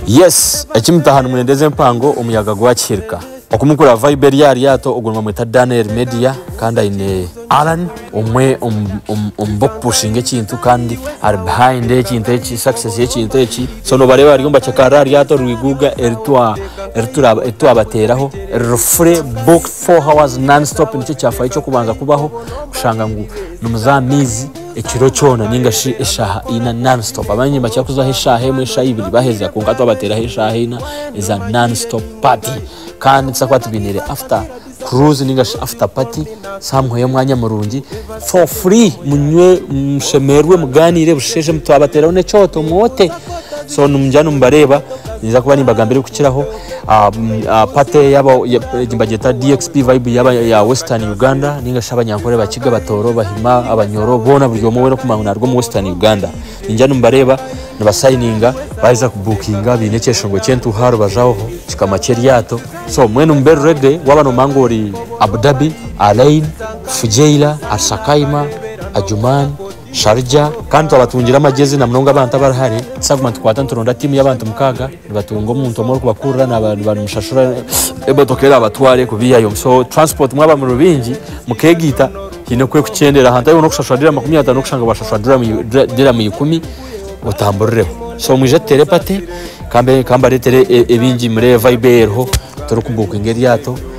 Yes eki mutaha nimwenda eze mpango omuyaga gwakihirika oku mukura vibe eri aha ryato ogu nibamweta Daniel Media kandi aine Allan omwe omu b'okupushinga ekintu kandi ari behind ekintu eki success y'ekintu eki so nobareeba bariyo nibacekarira aha ryato rwiguuga eri twabateeraho eriri fure booked. Four hours non stop nikyo kyafaayo ky'okubanza kubaho kushanga ngu nimuza aha maizi ekiro kyona ninga shi eshaaha ina non stop. Abandi nibakira kuzaho eshaaha emwe, eshaaha ibiri baheza kwonka twabateeraho eshaaha ina eza non stop party. Kandi nitubaasa kuba tubainiire after cruise ninga shi after party somewhere omwanya murungi for free munywe, mushemererwe, mugaaniire busheshe twabateeraho n'ekyoto mwote. So nimugira ngu nimubareeba, ninza kuba nimbagambira ebirikukiraho. Ah, mm, ah, pate yaba ya- egi bagyeta dxp vibe yaba ya western uganda ninga shi abanyankore bakiga batoro bahima abanyoro bona buri omwe wena okumanya ngu naruga omu western uganda ningira nimubareeba nibasayininga baaheza kubukinga baine ekyeshongo kyentuuha aharubaju aho kikama kyeryato so mbwenu mube ready waba nomanya ngu ori abudhabi alain fujairah arsakaima ajuman sharjah kandi twabatungire amagyezi namunonga abantu abari hare tusaguma nitukwata nituronda tiimu yabantu mukaaga Nibatunga omuntu omwe orikubakurira naba nibamushashura emotoka eraabatware kubiihayo. So transport mwaba muri baingi mukeegaita haine ku erikukyendera. Hantaahi boona okushashura dirham makumi ataano n'okushanga washashura dirham ikumi otamburireho. So mwije tuteere pate ka mbareetere ebingi murebe vibe ei eriho, turi kubuukinga eryato.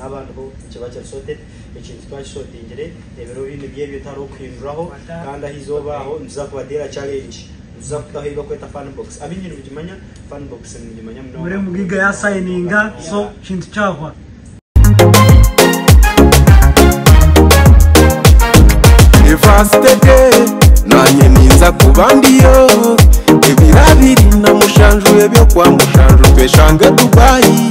Haaba hariho ekiba kiri sorted, ekintu twaba kisotingire, ebiro binu by'ebyo tihariho kuhinduraho, kandi aha izooba aho nituza kubateera challenge, nituza kutaho ei bakweta fan box. Abaingi nibagimanya fan box, nibagimanya munonga munonga munonga munonga. University day nanye ninza kuba ndiyo Ebiro abiri na mushanju ebyo kwa mushanju tweshange Dubai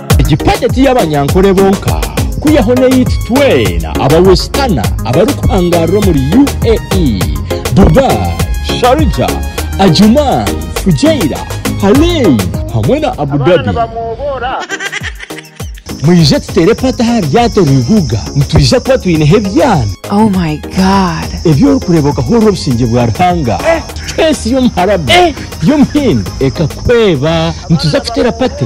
Egi Pageant y'abanyankore bonka kwihaho n'eyaitu twena aba Westerner abarikuhangaarira omuri UAE, Dubai, Sharjah, Ajman, Fujairah, Harlein hamwe na Abu Dhabi. Mwije tuteere pata aha ryato Rihuga nitwija kuba twineho ebyana. Oh my God. Ebi orikureeba okahurira obusingye bwa Ruhanga. Space y'omuharabu, y'omuhindi ekakuhweba. Nituza kuteera pate.